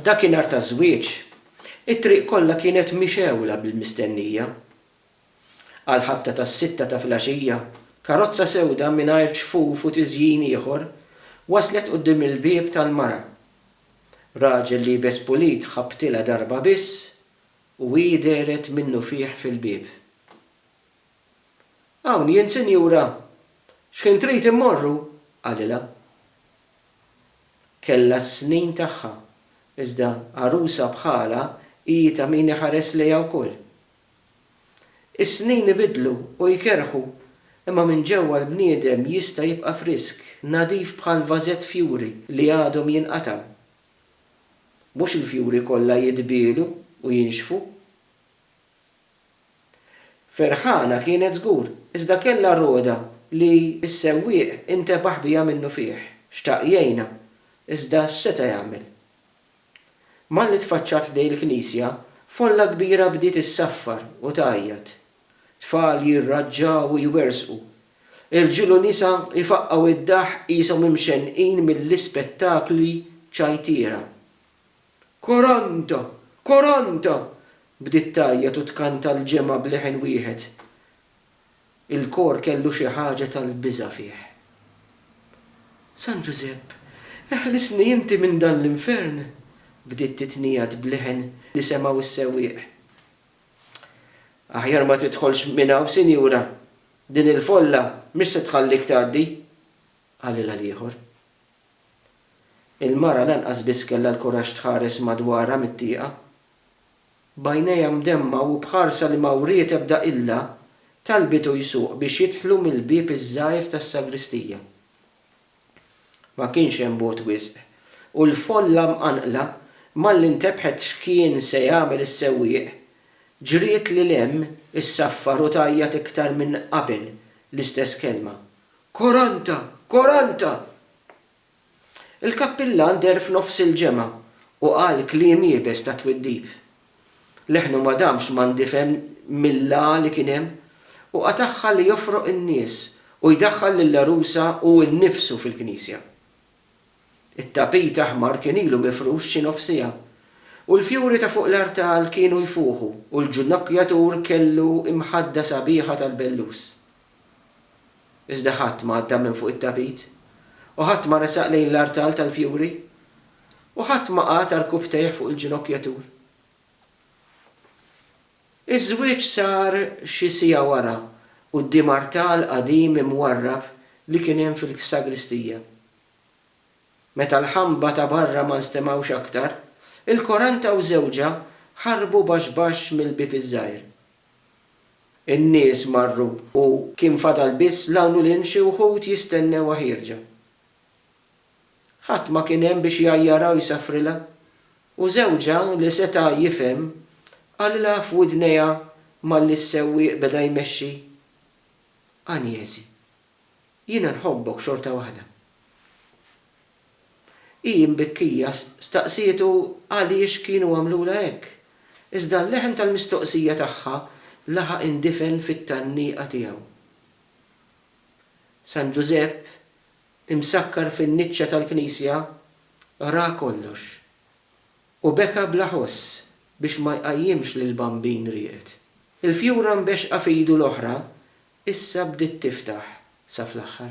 Dakinhar taż-żwieġ, it-triq kollha kienet mixegħula bil-mistennija. Għall-ħabta tas-sitta ta' filgħaxija, karozza sewda mingħajr ġfuf u tiżjin ieħor waslet quddiem il-bieb tal-mara. Raġel liebes pulit ħabbtilha darba biss u hi dehret minnufih fil-bieb. Hawn jien, sinjura! X'ħin trid immorru? qalilha. Kellha s-snin tagħha, iżda għarusa bħalha hi ta' min iħares lejha wkoll. Is-snin ibidlu u jkerrħu, imma minn ġewwa l-bniedem jista' jibqa' frisk, nadif bħal vażett fjuri li għadhom jinqatgħu. Mhux il-fjuri kollha jitbielu u jinxfu. Ferħana kienet żgur, iżda kellha roda li s-sewwieq intebaħ biha minnufih. Xtaq jgħinha, iżda x'seta' jagħmel? Malli tfaċċat ħdejn il-knisja, folla kbira bdiet issaffar u tgħajjat. Tfal jirraġġaw u jwerżqu. Irġiel u nisa jfaqqgħu d-daħq qishom imxennqin mill-ispettakli ċajtiera. Coronto! Coronto! bdiet tgħajjat u tkanta l-ġemgħa b'leħen wieħed. Il-kor kellu xi ħaġa tal-biża' fih. San Ġużepp, eħlisni inti minn dan l-infern! bdiet titnigħad b'leħen li semgħu s-sewwieq. Aħjar ma tidħolx minn hawn, sinjura, din il-folla mhix se tħallik tgħaddi, qalilha l-ieħor. Il-mara lanqas biss kellha l-kuraġġ tħares madwarha mit-tieqa. B'għajnejha mdemmgħa u b'ħarsa li ma wriet ebda qilla, talbitu jsuq biex jidħlu mill-bieb iż-żgħir tas-sagristija. Ma kienx hemm bogħod wisq, u l-folla mqanqla, malli ntebħet x'kien se jagħmel is-sewwieq, ġriet lil hemm issaffar u tgħajjat iktar minn qabel l-istess kelma, Quaranta! Quaranta! Il-kappillan deher f'nofs il-ġemgħa u qal kliem iebes ta' twiddib. Leħnu ma damx ma ndifen mill-għagħa li kien hemm u qatagħha li jofroq in-nies u jdaħħal lill-għarusa hu nnifsu fil-knisja. It-tapit aħmar kien ilu mifrux xi nofs siegħa u l-fjuri ta' fuq l-artal kienu jfuħu u l-ġnokkjatur kellu imħadda sabiħa tal-bellus. Iżda ħadd ma għadda minn fuq it-tapit, u ħadd ma resaq lejn l-artal tal-fjuri, u ħadd ma qagħad arkubtejh fuq il-ġinokkjatur. Iż-żwieġ sar xi siegħa wara quddiem artal qadim imwarrab li kien hemm fil-sagristija. Meta l-ħamba ta' barra ma nstemgħux aktar, il-Koranta u żewġha ħarbu baxx baxx mill-bieb iż-żgħir. In-nies marru u kien fadal biss l-hawn u l-hemm xi wħud jistennewha ħierġa. Ħadd ma kien hemm biex jgħajjarha u jsaffrilha, u żewġha li seta' jifhem qalilha f'widnejha malli s-sewwieq beda jmexxi, Anjezi, jiena nħobbok xorta waħda. Hi imbikkija staqsietu għaliex kienu għamlulha hekk, iżda l-leħen tal-mistoqsija tagħha laħaq indifen fit-tgħanniqa tiegħu. San Ġużepp, imsakkar fin-niċċa tal-knisja, ra kollox, u beka bla ħoss biex ma jqajjimx lill-Bambin rieqed. Il-fjura mbexxqa f'idu l-oħra issa bdiet tiftaħ sa fl-aħħar.